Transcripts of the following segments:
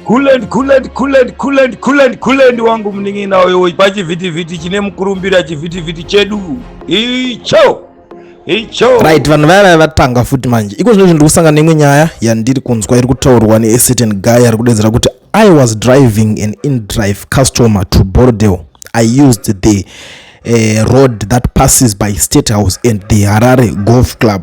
Kulendi, kulendi, kulendi, kulendi, kulendi, kulendi wangu munin'ina uyo pachivhitivhiti chine mukurumbira chivhitivhiti chedu icho icho. Right, vanhu vaya vaya vatanga futi manje. Iko zvino zvindiri kusangana neimwe nyaya yandiri kunzwa iri kutaurwa ne certain guy ari kudedzera kuti I was driving an in-drive customer to Bordeaux. I used the uh, road that passes by State House and the Harare Golf Club.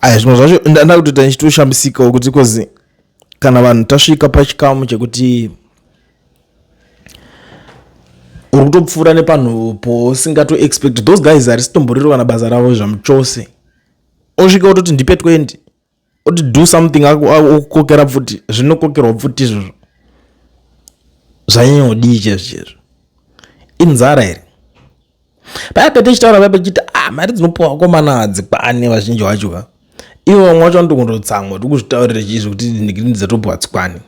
aya zvimwe zvacho ndakutoita ndichitoshambisikawo kuti kozi kana vanhu tasvika pachikamu chekuti uri kutopfuura nepanhu po singato expect those guys harisitomboriro kana basa ravo zvamuchose osvika ototi ndipe 20 oti do something okukokera pfuti zvinokokerwa pfuti izvozvo zvanyanya kudii chezvo chezvo inzara here paya pete chitaura paya pechiti ah mari dzinopiwa vakomana hadzikwane vazhinji vacho ka ivo vamwe vacho vanotongonotsamwa tikuzvitaurira chizvo kuti ndikirini dzatopiwa hadzikwani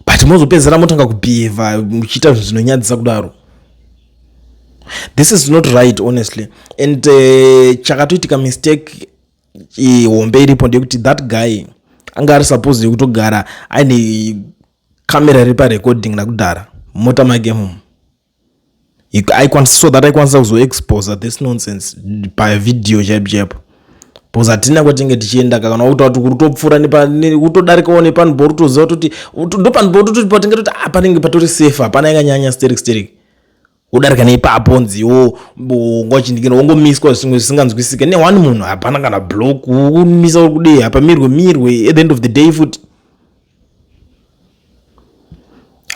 but mozopedzera motanga kubhihevha muchiita zvinhu zvinonyadzisa kudaro this is not right honestly and uh, chakatoitika mistake hombe iripo ndeyekuti that guy anga ari suppose yekutogara aine camera iri parecording nakudhara mota make mum aikwanisa so that aikwanisa kuzoexposa this nonsense pavideo chaipo chaipo bcause hatina kwatinge tichienda ka kana wakutaa kuti kutopfuura kutodarikawo nepano bo rutoziva toti ndopano bo tototi patinge toti a ah, panenge patori safe hapana yakanyanya sterik sterik wodarika neipapo nziwo ngwachindikira wongomiswa zvimwe zvisinganzwisike neone munhu hapana kana block womisa uri kudei hapamirwe mirwe at the end of the day futi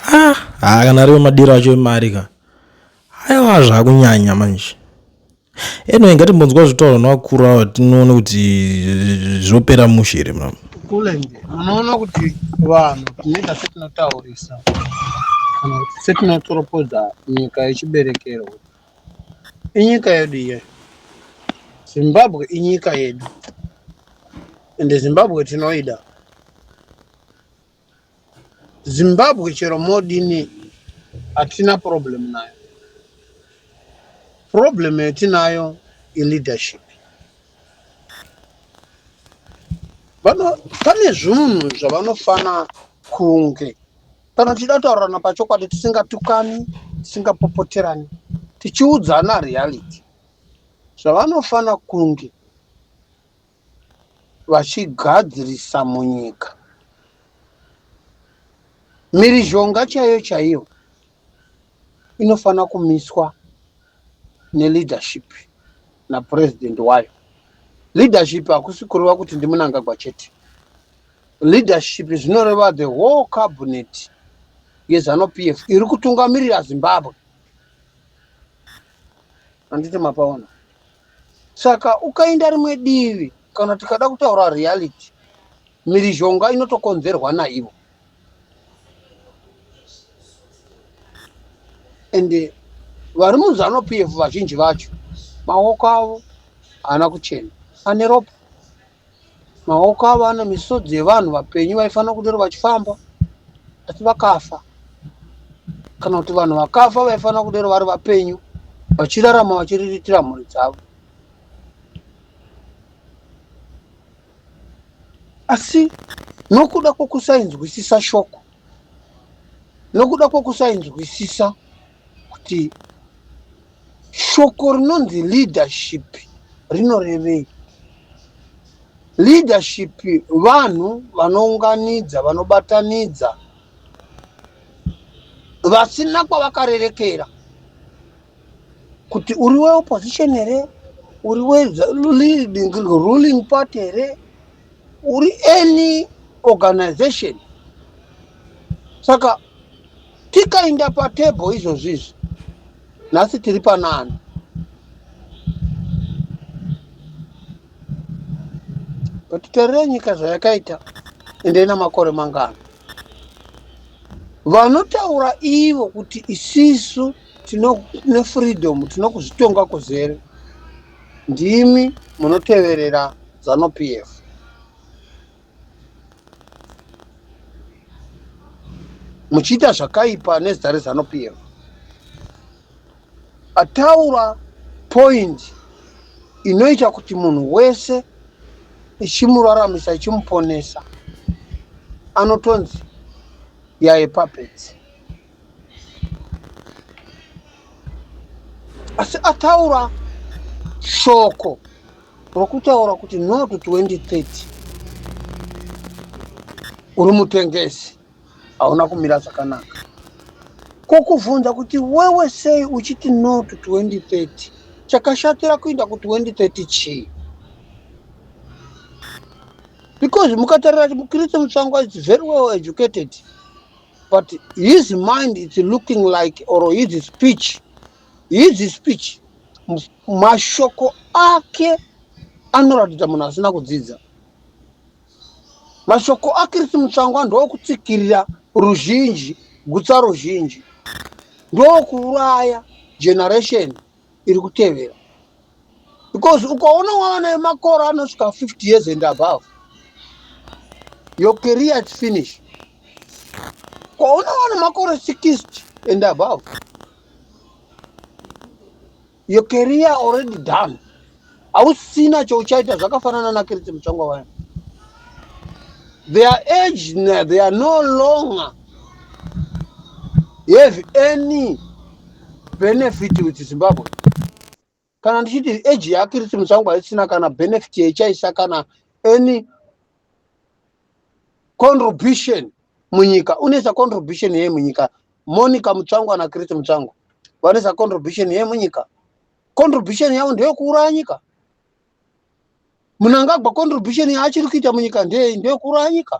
ha ah, kana ariwe madiro acho emari ka aiwa zvakunyanya manje anyway ngatimbonzwa zvitauro nevakuru avo tinoone kuti zvopera mushe here mama kulenge munoona kuti vanhu tinoita setinotaurisa kana kuti setinotoropodza nyika yechiberekero inyika yedu iyoyo zimbabwe inyika yedu ende zimbabwe tinoida zimbabwe chero modini hatina problem nayo problem yatinayo ileadership vano pane zvunhu zvavanofana kunge Kana tichida kutaurirana pachokwadi tisingatukani, tisingapopoterani, tichiudzana reality, zvavanofanira kunge vachigadzirisa munyika mhirizhonga chaiyo chaiyo inofanira kumiswa neleadership napurezidendi wayo leadership hakusi kureva kuti ndimunangagwa chete Leadership zvinoreva the whole cabinet yezanu PF iri kutungamirira Zimbabwe. Handiti mapaona. Saka ukaenda rimwe divi kana tikada kutaura reality mirizhonga inotokonzerwa naivo. And vari muzanu PF vazhinji vacho maoko avo haana kuchena ane ropa Maoko avo ane misodzi yevanhu vapenyu vaifanira kudero vachifamba asi vakafa. Kana kuti vanhu vakafa vaifanira kudero vari vapenyu vachirarama vachiriritira mhuri dzavo. Asi nokuda kwokusainzwisisa shoko, nokuda kwokusainzwisisa kuti shoko rinonzi leadership rinorevei. Leadership vanhu vanounganidza, vanobatanidza vasina kwavakarerekera kuti uri weopposition here, uri weruling party here, uri any organization. Saka tikainda patable izvozvizvi nhasi tiri panani but terere nyika zvayakaita ende ina makore mangano vanotaura ivo kuti isisu tine freedom tinokuzvitonga kuzere ndimi munoteverera zanu pf muchiita zvakaipa nezita rezano pf ataura point inoita kuti munhu wese ichimuraramisa ichimuponesa anotonzi yaye papedzi asi ataura shoko rokutaura kuti not 2030 uri mutengesi hauna kumira zvakanaka kokuvhunza kuti wewe sei uchiti not 2030 chakashatira kuinda ku2030 chii because mukatarira mukristu mutsvangwa is very well educated but his mind is looking like or his speech his speech mashoko ake anoratidza munhu asina kudzidza mashoko akirisi mutsvangwa ndokutsikirira ruzhinji gutsa ruzhinji ndokuuraya generation iri kutevera because ukaona wava nayo makore anosvika 50 years and above your career is finish ukaona wana makore 60 and above your career already done hausina chouchaita zvakafanana nakiriti mutsvangwa vaya their age they are no longer have any benefit with zimbabwe kana ndichiti age yake riti musango haisina kana benefit yaichaisa kana any contribution munyika unoisa contribution yei munyika monica mutsvango ana kriti mutsvango vanoisa contribution yei munyika contribution yavo ndeyekuuraya nyika munangagwa contribution yaachiri kuita munyika ndeyei ndeyekuuraya nyika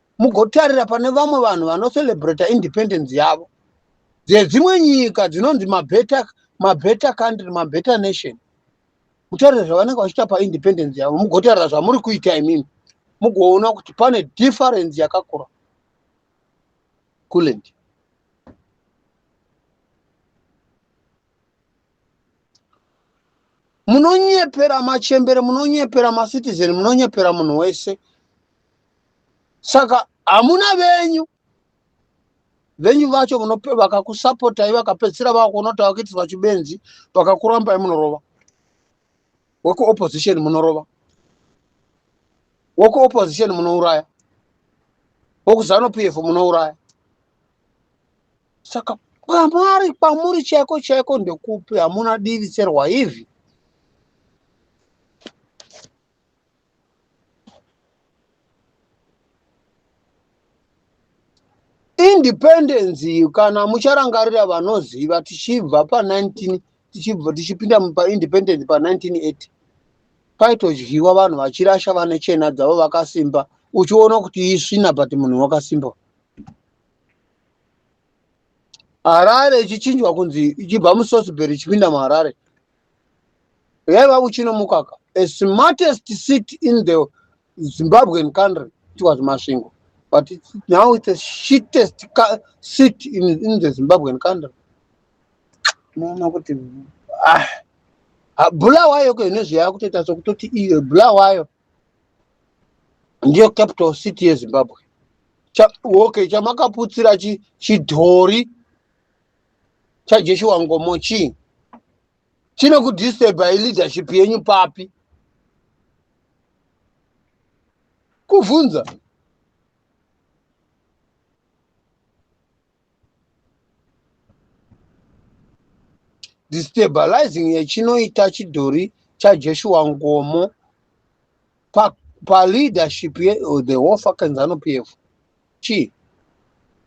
mugotarira pane vamwe vanhu vanocelebrata independence yavo dzedzimwe nyika dzinonzi mabetter mabetter country mabetter nation mutarira zvavanenge vachiita paindependence yavo mugotarira zvamuri kuita imimi mugoona kuti pane difference yakakura kuland munonyepera machembere munonyepera macitizen munonyepera munhu wese saka hamuna venyu venyu vacho vakakusapotai vakapedzisira vakuona kuti vakuitiswa chibenzi vakakurambai munorova wekuopposition munorova wekuopposition munouraya wekuzanupf munouraya saka kwamari kwamuri chaiko chaiko ndekupi hamuna divi serwa izvi independence iyo kana mucharangarira vanoziva tichibva pa19 tichibva tichipinda paindependence pa1980 paitodyiwa vanhu vachirasha vane chena dzavo vakasimba uchiona kuti isvina but munhu wakasimba harare ichichinjwa kunzi ichibva musosbary ichipinda muharare yaiva kuchino mukaka a smartest seat in the zimbabwean country it was masvingo but it's, now it's a shittest seat in, in the zimbabwean country unoona kuti ah, ah, bula wayo ko ine zvayakutoita sokuti iyo bula wayo ndiyo capital city yezimbabwe Cha, okay chamakaputsira chi, chidhori chajeshuwa ngomo chii chine kudisturba ileadership yenyu papi kuvhunza destabilizing yechinoita chidhori chaJoshua Ngomo pa, pa leadership ye oh, the whole fucking Zanu PF chi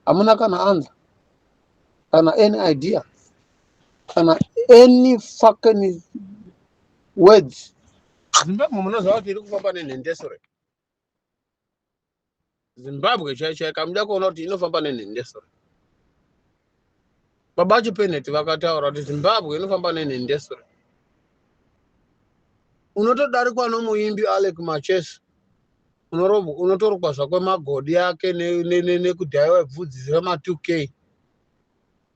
hamuna kana anza kana any idea kana any fucking words Zimbabwe munoziva kuti iri kufamba nenhendesure zimbabwe chai chai kamuda kuona kuti inofamba nenhende so baba vacho peneti vakataura kuti zimbabwe inofamba nenhende so unotodarikwa nomuimbi alec machesi unotorukwa zvakwe magodi ake nekudhaiwa bvudzi zvema 2 k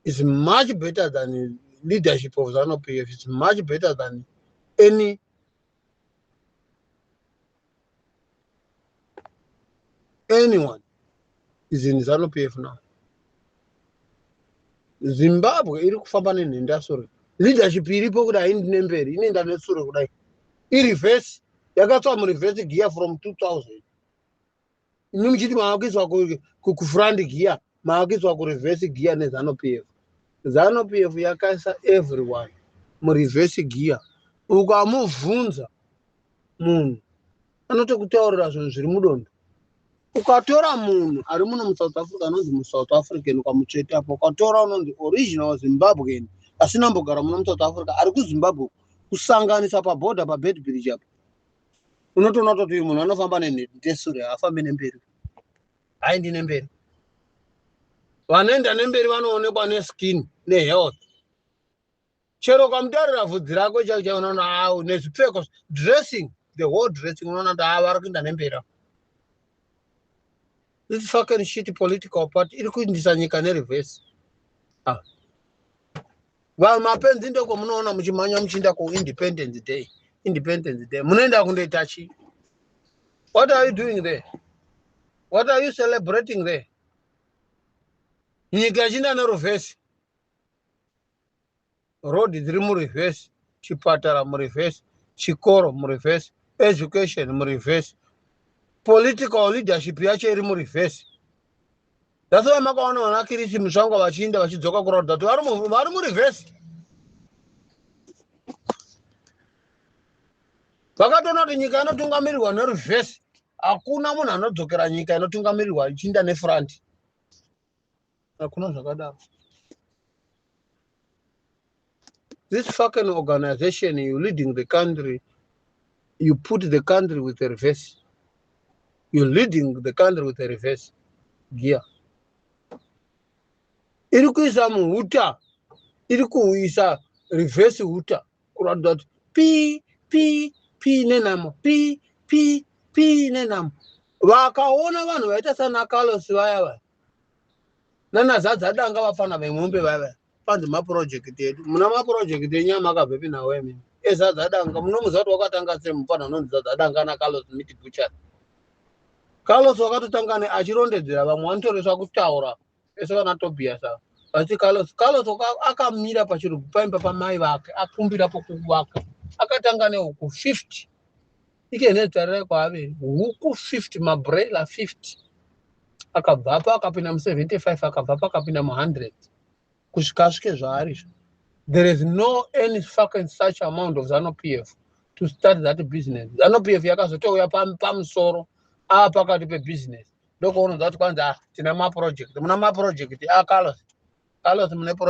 is much better than leadership of zanu pf is much better than any anyone is in zanu p f now zimbabwe iri kufamba nenhendasure leadership iripo kudai haindi nemberi inoenda nesure kudai ireverse yakatswa mureverse gear from 2000 imi muchiti mavakuiswa kufront gear mavakuiswa kureverse gear nezano p f zano p f yakaisa everyone mureverse gear ukamubvunza munhu anotokutaurira zvinhu zviri mudondo ukatora munhu ari muno musouth africa anonzi musouth african ukamutsveta apo ukatora unonzi original zimbabwean asina mbogara muno musouth africa ari kuzimbabwe kusanganisa paborder pabedbridge apo unotoona kutoti uyu munhu anofamba nendesure haafambi nemberi haindi nemberi vanoenda nemberi vanoonekwa neskin nehealth chero kwamutarira vhudzi rako chaivo chaivo unoona awu ah, nezvipfeko dressing the whole dressing unoona kuti ava ah, vari kuenda nemberi this fucking shit political party iri kuindisa nyika nereverse ah. vanhu mapenzi ndoko munoona muchimhanya muchiinda kuindependence day independence day munoenda kundoita chii what are you doing there what are you celebrating there nyika ichiinda nerevhesi road dziri mureverse chipatara mureverse chikoro mureverse education mureverse political leadership yacho iri mureverse that's why makaona vana kirisi musvango vachiinda vachidzoka kuratidza kuti vari mureverse vakatoona kuti nyika inotungamirirwa nereverse hakuna munhu anodzokera nyika inotungamirirwa ichiinda nefront hakuna zvakadaro this fucking organization you leading the country you put the country with a reverse you leading the country with a reverse gear iri kuisa muhuta iri kuisa reverse huta kuratidza kuti pi pi pi nenhamo pi pi pi nenhamo vakaona vanhu vaita sana carlos vaya vaya nana zadza danga vafana vemombe vavaya panzi mapurojekiti edu muna mapurojekiti enyu amakabvepi nawo emene ezadzadanga munomuziva kuti wakatanga sei mufana unonzi zadzadanga ana carlos miti buchari carlos wakatotanga ne achirondedzera vamwe vanotoreswa kutaura ese vana tobias ava vachiti carlos carlos akamira pachirugwi paimba pamai vake akumbira pokuku vake akatanga neuku 50 ike nezvitarai kwaaveri huku 50 mabraila 50 akabvapo akapinda mu75 akabvapo akapinda mu100 kusvika asvike zvaarizvo there is no any fucking such amount of zanu p f to start that business zanu p f yakazotouya pamusoro aa pakati pebusiness ndokuona zva kuti kwanzi ah, tina maproject muna maproject akalos ah, kalos mune